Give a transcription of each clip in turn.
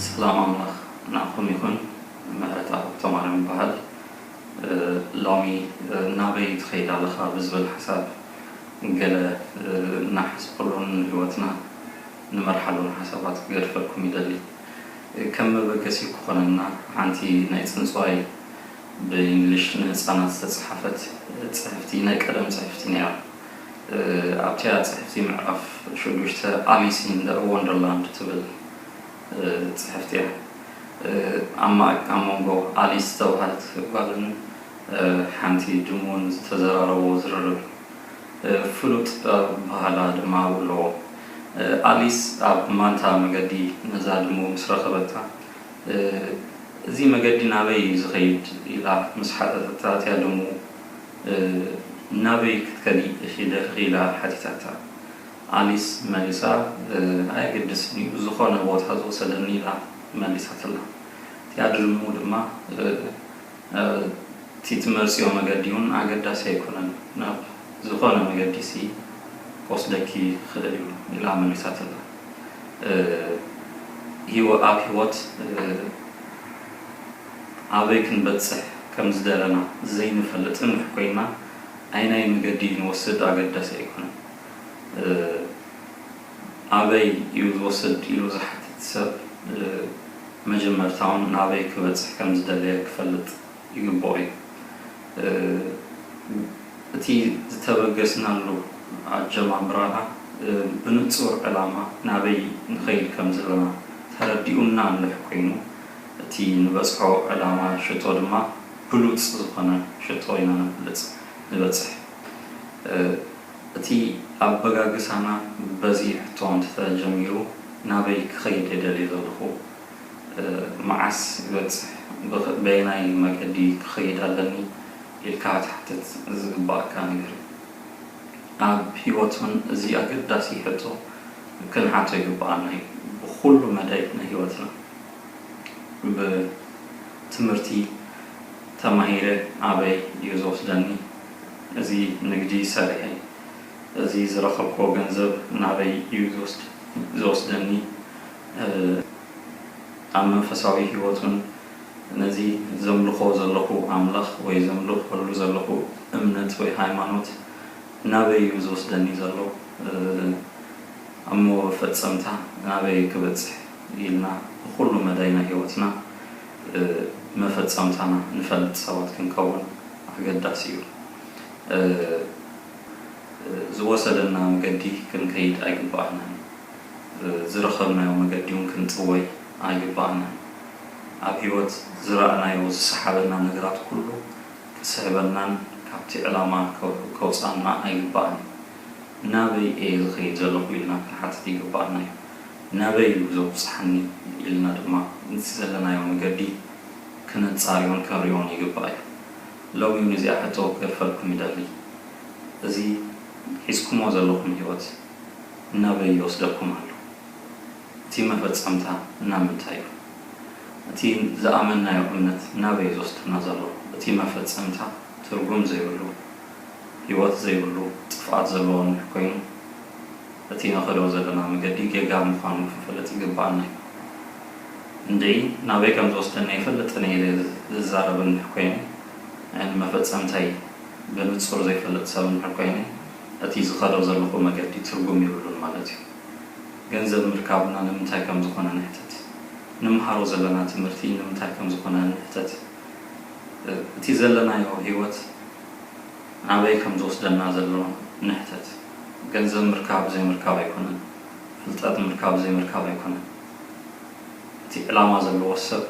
ሰላም ኣምላኽ ንዓኹም ይኹን ምሕረታ ሃብተማርያም ይበሃል ሎሚ ናበይ ትኸይድ ኣለኻ ብዝብል ሓሳብ ገለ እናሓስበሉን ንህይወትና ንመርሓሉን ሓሳባት ክገድፈልኩም ይደሊ ከም መበገሲ ክኾነና ሓንቲ ናይ ጽንጽዋይ ብኢንግሊሽ ንህጻናት ዝተጻሓፈት ጽሕፍቲ ናይ ቀደም ጽሕፍቲ ነይራ። ኣብቲኣ ጽሕፍቲ ምዕራፍ ሽዱሽተ ኣሊስ ኢን ደ ወንደርላንድ ትብል ጽሕፍቲ እያ። ኣብ መንጎ ኣሊስ ዝተባህለት ጓልን ሓንቲ ድሙን ዝተዘራረብዎ ዝርርብ ፍሉጥ ኣበሃህላ ድማ ኣለዎ። ኣሊስ ኣብ ማንታ መገዲ ነዛ ድሙ ምስ ረኸበታ፣ እዚ መገዲ ናበይ እዩ ዝኸይድ? ኢላ ምስ ሓተተታ ኣትያ ደሙ ናበይ ክትከዲ ኢኺ ደኺኺ? ኢላ ሓቲታታ። ኣሊስ መሊሳ ኣየገድስን እዩ ዝኾነ ቦታ ዝወሰደኒ ኢላ መሊሳትላ። እቲኣ ድሙ ድማ እቲ ትመርጽዮ መገዲ እውን ኣገዳሲ ኣይኮነን ናብ ዝኾነ መገዲሲ ክወስደኪ ይኽእል እዩ ኢላ መሊሳትላ። ኣብ ህይወት ኣበይ ክንበጽሕ ከም ዝደለና ዘይንፈልጥ እንሕ ኮይንና፣ ኣየናይ መገዲ ንወስድ ኣገዳሲ ኣይኮነን። ኣበይ እዩ ዝወስድ ኢሉ ዝሓትት ሰብ፣ መጀመርታውን ናበይ ክበጽሕ ከም ዝደለየ ክፈልጥ ይግበኦ እዩ። እቲ ዝተበገስናሉ ኣጀማምራና ብንጹር ዕላማ ናበይ ንኸይድ ከም ዘለና ተረዲኡና እንድሕ ኮይኑ እቲ ንበጽሖ ዕላማ ሽቶ ድማ ብሉጽ ዝኾነ ሽቶ ኢና ነብልጽ ንበጽሕ። እቲ ኣበጋግሳና በዚ ሕቶ እንተተጀሚሩ ናበይ ክኸይድ እየ ደልየ ዘለኹ? መዓስ ይበጽሕ ብክ በየናይ መገዲ ክኸይድ ኣለኒ ኢልካ ክትሓትት ዝግበኣካ ነገር እዩ። ኣብ ሂወት ውን እዚ ኣገዳሲ ሕቶ ክንሓቶ ይግበኣና እዩ። ብኹሉ መዳይ ናይ ሂወትና ብ ትምህርቲ ተማሂረ ኣበይ እዩ ዝወስደኒ፣ እዚ ንግዲ ሰሪሐ እዚ ዝረኸብክዎ ገንዘብ ናበይ እዩ ዝወስደኒ፣ ኣብ መንፈሳዊ ህይወቱን ነዚ ዘምልኾ ዘለኹ ኣምላኽ ወይ ዘምልኸሉ ዘለኹ እምነት ወይ ሃይማኖት ናበይ እዩ ዝወስደኒ ዘሎ ኣብ መወፈጸምታ ናበይ ክበጽሕ ኢልና ብኹሉ መዳይ ናይ ህይወትና መፈጸምታና ንፈልጥ ሰባት ክንከውን ኣገዳሲ እዩ ዝወሰደና መገዲ ክንከይድ ኣይግብኣናን እዩ። ዝረኸብናዮ መገዲውን ክንጥወይ ኣይግብኣናን። ኣብ ሕይወት ዝረእናዮ ዝሰሓበና ነገራት ኩሉ ክስሕበናን ካብቲ ዕላማ ከውጽኣና ኣይግብኣን እዩ። ናበይ እየ ዝኸይድ ዘለኹ ኢልና ክንሓትት ይግብኣና እዩ። ናበይ እዩ ዘብጽሓኒ ኢልና ድማ ነቲ ዘለናዮ መገዲ ክነጻርዮን ክንርእዮን ይግባእ እዩ። ሎሚውን እዚኣ ሕቶ ክገድፈልኩም ይደሊ። እዚ ሒዝኩሞ ዘለኹም ሕይወት። ናበይ ይወስደኩም ኣሎ? እቲ መፈጸምታ ናብ ምንታይ እዩ? እቲ ዝኣመንናዮ እምነት ናበይ እዩ ዝወስደና ዘሎ? እቲ መፈጸምታ ትርጉም ዘይብሉ፣ ህይወት ዘይብሉ፣ ጥፍኣት ዘለዎ እንድሕር ኮይኑ፣ እቲ ንኸዶ ዘለና መገዲ ጌጋ ምዃኑ ክንፈልጥ ይግብኣና እዩ። እንድዒ ናበይ ከም ዝወስደኒ ኣይፈልጥን እየ ኢለ ዝዛረብ እንድሕር ኮይነ፣ ንመፈጸምታይ ብንጹር ዘይፈልጥ ሰብ እንድሕር ኮይነ፣ እቲ ዝኸዶ ዘለኹ መገዲ ትርጉም የብሉን ማለት እዩ። ገንዘብ ምርካብና ንምንታይ ከም ዝኾነ ንሕተት። ንምሃሮ ዘለና ትምህርቲ ንምንታይ ከም ዝኾነ ንሕተት። እቲ ዘለናዮ ህይወት ናበይ ከም ዝወስደና ዘሎ ንሕተት። ገንዘብ ምርካብ ዘይምርካብ ኣይኮነን። ፍልጠት ምርካብ ዘይምርካብ ኣይኮነን። እቲ ዕላማ ዘለዎ ሰብ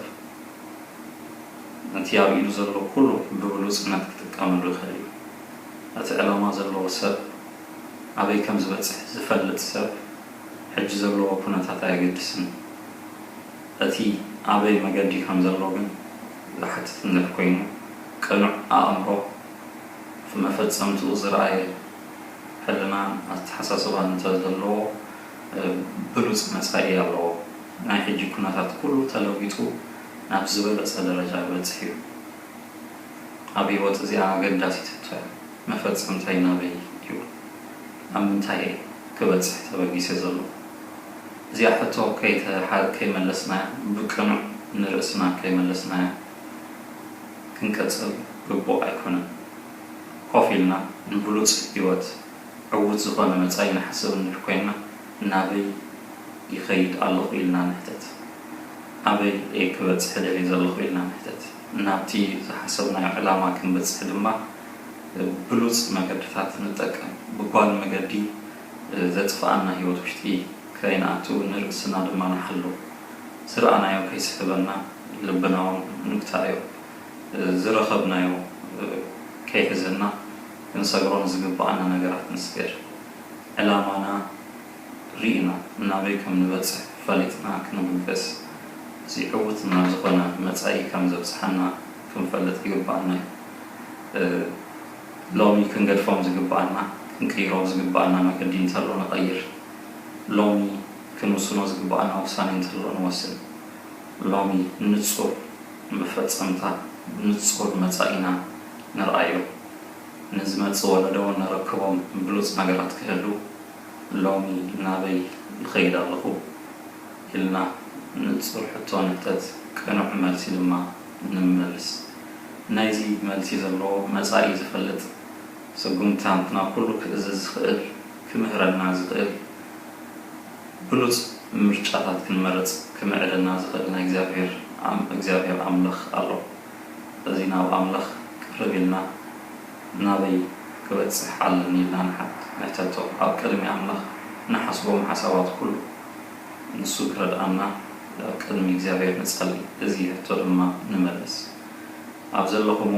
ነቲ ኣብ ኢዱ ዘሎ ኩሉ ብብሉጽነት ክጥቀመሉ ይኽእል እዩ። እቲ ዕላማ ዘለዎ ሰብ ኣበይ ከም ዝበጽሕ ዝፈልጥ ሰብ ሕጂ ዘለዎ ኩነታት ኣየገድስን እቲ ኣበይ መገዲ ከም ዘሎ ግን ዝሓትት እንድሕር ኮይኑ ቅኑዕ ኣእምሮ ኣብ መፈጸምትኡ ዝረኣየ ሕልናን ኣተሓሳስባን እንተ ዘለዎ ብሉጽ መጻኢ ኣለዎ ናይ ሕጂ ኩነታት ኩሉ ተለዊጡ ናብ ዝበለጸ ደረጃ ክበጽሕ እዩ። ኣብ ሂወት እዚኣ ኣገዳሲት ሕቶ እያ መፈጸምተይ ናበይ እዩ ኣብ ምንታይ እየ ክበጽሕ ተበጊሰ ዘለኹ እዚኣ ሕቶ ከይመለስናያ ብቅኑዕ ንርእስና ከይመለስናያ ክንቅጽል ግቡእ ኣይኮነን ኮፍ ኢልና ንብሉጽ ሂወት ዕዉት ዝኾነ መጻኢ ንሓስብ እንድሕር ኮይንና ናበይ ይኸይድ ኣለኹ ኢልና ንሕተት። ኣበይ እየ ክበጽሕ ደልየ ዘለኹ ኢልና ንሕተት። ናብቲ ዝሓሰብናዮ ዕላማ ክንበጽሕ ድማ ብሉጽ መገድታት ንጠቀም። ብጓል መገዲ ዘጥፍኣና ህይወት ውሽጢ ከይንኣቱ ንርእስና ድማ ንሓሉ። ዝረኣናዮ ከይስሕበና ልብናውን ንግትኣዮ። ዝረኸብናዮ ከይሕዘና። ክንሰግሮም ዝግበኣና ነገራት ንስገር። ዕላማና ርኢና ናበይ ከም ንበጽሕ ፈሊጥና ክንብገስ፣ እዚ ዕዉት ናብ ዝኾነ መጻኢ ከም ዘብጽሓና ክንፈልጥ ይግበኣና እዩ። ሎሚ ክንገድፎም ዝግበኣና ክንቅይሮም ዝግበኣና መገዲ እንተሎ ንቐይር። ሎሚ ክንውስኖ ዝግበኣና ውሳኔ እንተሎ ንወስን። ሎሚ ንጹር መፈጸምታ ንጹር መጻኢና ንርኣዮ። ንዝመጽእ ወለዶ ነረክቦም ብሉጽ ነገራት ክህሉ ሎሚ ናበይ ይኸይድ ኣለኹ ኢልና ንጹር ሕቶ ንሕተት ቅኑዕ መልሲ ድማ ንመልስ። ናይዚ መልሲ ዘለዎ መጻኢ ዝፈልጥ ስጉምትታትና ኩሉ ክእዝዝ ዝኽእል ክምህረና ዝኽእል ብሉጽ ምርጫታት ክንመርጽ ክምዕደና ዝኽእል ናይ እግዚኣብሔር ኣም እግዚኣብሔር ኣምላኽ ኣሎ። ስለዚ ናብ ኣምላኽ ቅርብ ኢልና ናበይ ክበጽሕ ኣለኒ ኢልና ንሕተቶ ኣብ ቅድሚ ኣምላኽ ንሓስቦም ሓሳባት ኩሉ ንሱ ክረድኣና ኣብ ቅድሚ እግዚኣብሔር ንጸሊ እዚ ሕቶ ድማ ንመልስ ኣብ ዘለኹሞ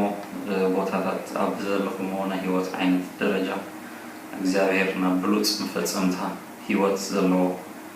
ቦታታት ኣብ ዘለኹሞ ናይ ሕይወት ዓይነት ደረጃ እግዚኣብሔር ናብ ብሉጽ መፈጸምታ ሕይወት ዘለዎ